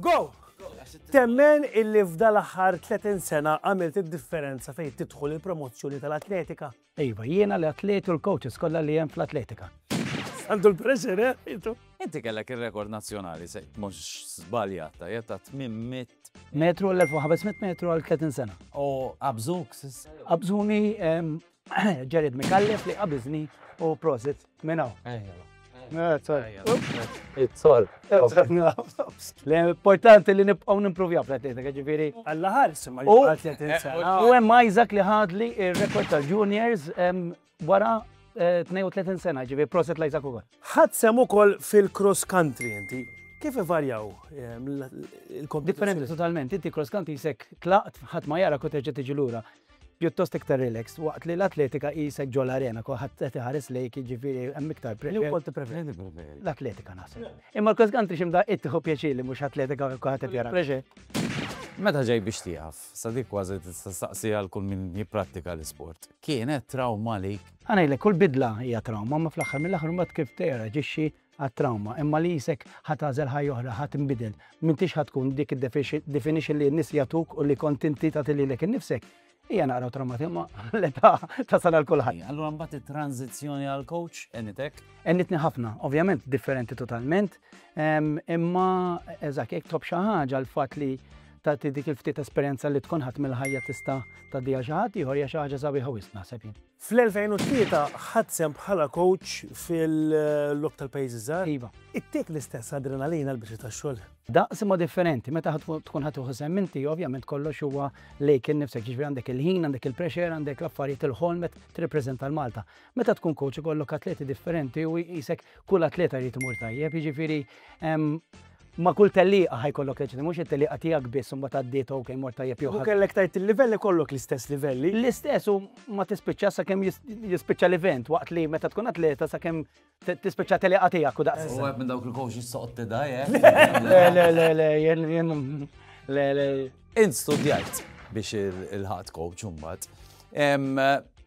Go! Temmen illi f'dal aħħar 30 sena għamilt id-differenza fejn tidħol il-promozzjoni tal-atletika? Iva, jiena l-atleti u l-coaches kollha li hemm fl-atletika. Għandu l-pressure, eh, intu. Inti kellek il-rekord nazjonali, se mux zbaljat, ta' jetta 800. Metru l-1500 metru għal 30 sena. U abżuk, sis? Abżuni Jared Mikallef li qabizni u prosit minn hawn. It-sol. L-importanti li nibqgħu nimpruvja fl-atletika, ġifieri. Alla ħares ma U hemm Isaac li ħadli ir-rekord tal-juniors wara 32 eh, sena, ġifieri proset l-Isaac ukoll. Ħadd sem ukoll fil-cross country inti. Kif ivarjaw ehm, il-kompetizzjoni? Differenti totalment, inti cross country jisek tlaqt ħadd ma jara kont terġa' tiġi lura. pjuttost iktar relaxed, waqt li l-atletika qisek ġol arena, kulħadd qed iħares lejk, jiġifieri hemm iktar pressjoni. Wkoll tippreferi l-atletika naħseb. Imma l-cross country xi mdaqqiet tieħu pjaċir li mhux atletika u kulħadd qed jara. Meta ġej biex tieqaf, sa dik kważi tista' staqsi għal kull min jipprattika l-isport. Kienet trawma għalik? Ħa ngħidlek, kull bidla hija trawma, ma fl-aħħar mill-aħħar imbagħad kif teraġixxi għat-trawma, imma li qisek ħa tagħżel ħajja oħra, ħa tinbidel. M'intix ħa tkun dik id-definition li n-nies jagħtuk u li kont inti tagħti lilek innifsek. Hija naqra trawmati, imma l-età tasal għal kulħadd. Allura mbagħad it-tranżizzjoni għal coach enitek? Enitni ħafna, ovvjament differenti totalment, imma eżak jekk tob xi ħaġa l-fatt li tagħti dik il-ftit esperjenza li tkun ħadd mill-ħajja tista' tgħaddiha xi ħadd ieħor hija xi ħaġa sabiħa wisq naħseb jien. Fl-2003 ħadt sehem bħala kowċ fil-Logħob tal-Pajjiżi Żgħar. Iva. Ittik l-istess adrenalina l-biċċa tax-xogħol? Daqs imma differenti. Meta tkun ħadd tieħu sehem inti, ovvjament kollox huwa lejk innifsek, jiġifieri għandek il-ħin, għandek il-pressure, għandek l-affarijiet, il-ħolm qed tirrappreżenta 'l Malta. Meta tkun kowċ ikollok atleti differenti u qisek kull atleta jrid imur tajjeb, jiġifieri Ma' kull tellieqa ħa jkollok tgħid li mhux it-tellieqa tiegħek biss imbagħad għaddiet u okej mort tajjeb jew ħażin. Kieku kellek tgħid il-livelli kollok l-istess livelli. L-istess u ma tispiċċax sakemm jispiċċa l-event waqt li meta tkun atleta sakemm tispiċċa tellieqa tiegħek u daqshekk. U wieħed minn dawk il-coaches soqgħod tidgħi, eh? Le, le, le, le, jien, jien, le, le. Int studjajt biex ilħaqt coach imbagħad.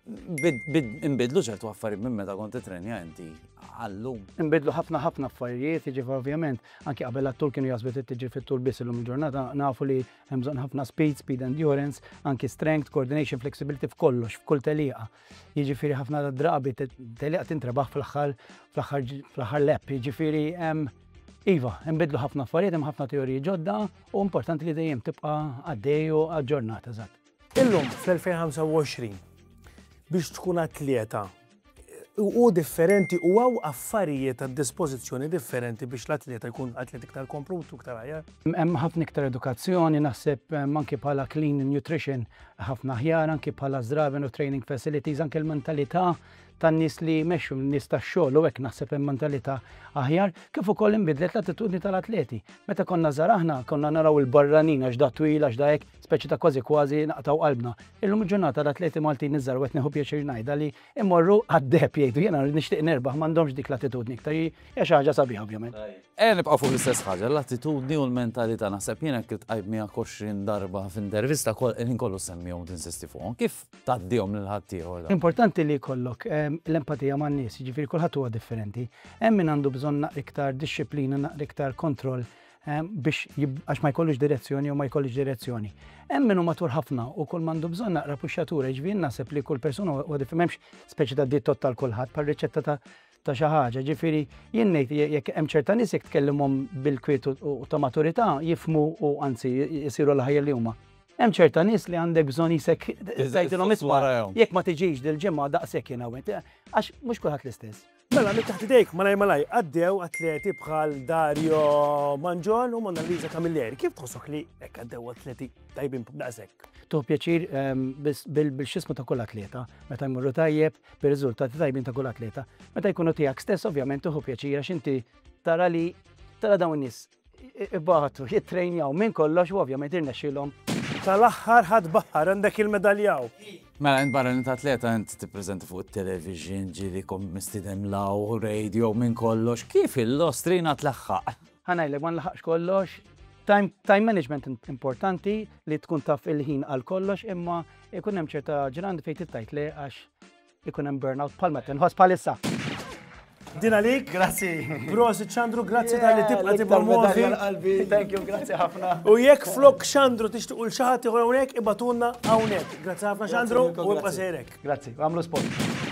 Inbidlu ċertu affarijiet minn meta kont titrenja inti għallum. Inbidlu ħafna ħafna affarijiet, ġifa ovvjament, anki qabel għattur kienu jasbet t-tġi fit-tul biss illum il-ġurnata, nafu li jemżon ħafna speed, speed endurance, anki strength, coordination, flexibility f'kollox, f'kull teliqa. Jiġifieri ħafna drabi teliqa tintrebaħ fl-aħħar fl-aħħar lep, jiġifieri Iva, nbidlu ħafna affarijiet, hemm ħafna teoriji ġodda, U importanti li dejjem tibqa' għaddej u aġġornat eżatt. Illum fl-2025 biex tkun atleta u differenti u għaw affarijiet għad dispożizzjoni differenti biex l-atleta jkun atleta iktar komplut u iktar ħajar. Hemm ħafna iktar edukazzjoni naħseb eh, anki bħala clean nutrition ħafna ħjar, anki bħala zdraven u training facilities, anki l-mentalità tan-nies li jmexxu, n-nies tax-xogħol u hekk naħseb hemm mentalità aħjar, kif ukoll inbidlet l-attitudni tal-atleti. Meta konna żgħar aħna konna naraw il-barranin għax da twil għax da hekk, speċi ta' kważi kważi naqtgħu qalbna. Illum il-ġurnata l-atleti Maltin iż-żgħar u qed nieħu pjaċir ngħidha li imorru għad-deheb jgħidu jiena rrid nixtieq nerbaħ m'għandhomx dik l-attitudni iktar hija xi ħaġa sabiħa ovvjament. Ejja nibqgħu fuq l-istess ħaġa, l-attitudni u l-mentalità naħseb jien hekk iltqajt miegħek 20 darba f'intervista kol il-ħin kollu semmihom tinsisti fuqhom. Kif tgħaddihom lil ħaddieħor. Importanti li jkollok l-empatija man-nies, jiġifieri kulħadd huwa differenti. Hemm min għandu bżonn naqra iktar dixxiplina, naqra iktar kontroll biex għax ma jkollux direzzjoni jew ma jkollix direzzjoni. Hemm min hu matur ħafna u kull m'għandu bżonn naqra puxxatura, jiġifieri naħseb li kull persuna huwa differenti m'hemmx speċi ta' diet total kulħadd bħal riċetta ta' ta' xi ħaġa. Jiġifieri jien ngħid jekk hemm ċerta nies jekk tkellimhom bil-kwiet u ta' maturità jifhmu u anzi jsiru l-aħjar li huma. Hemm ċerta nies li għandek bżonn qisek tgħidilhom isma' jekk ma tiġix dil-ġimgħa daqshekk jiena u int. Għax mhux kulħadd l-istess. Mela minn taħt idejk malajr malajr għaddew atleti bħal Dario Mangion u Mona Lisa Camilleri. Kif tħossok li hekk għaddew atleti tajbin daqshekk? Tuħu pjaċir bil-xismu ta' kull atleta meta jmorru tajjeb bir-riżultati tajbin ta' kull atleta. Meta jkunu tiegħek stess ovvjament tieħu pjaċir għax inti tara li tara dawn in-nies ibatu, jittrejnjaw minn kollox u ovvjament irnexxilhom. Tal-aħħar ħadd baħħar, għandek il-medalja hawn. Mela int barra li atleta int tippreżenta fuq it-television, ġieli kont mistieden l-hawn, radio minn kollox, kif il-Ostrina tlaħħaq? Ħa ngħidlek ma nlaħaqx kollox. Time, time management importanti li tkun taf il-ħin għal kollox imma ikun hemm ċerta ġrand fejn tittajt le għax ikun hemm burnout bħal meta nħoss bħalissa. Din għalik. Grazzi. Prosi ċandru, grazzi tal-li tibqa tibqa moħi. Thank you, grazzi ħafna. U jekk flok ċandru tixtiq ul xaħat iħor għonek, ibatunna għonek. Grazzi ħafna ċandru, u ibqa sejrek. Grazzi, għamlu sport.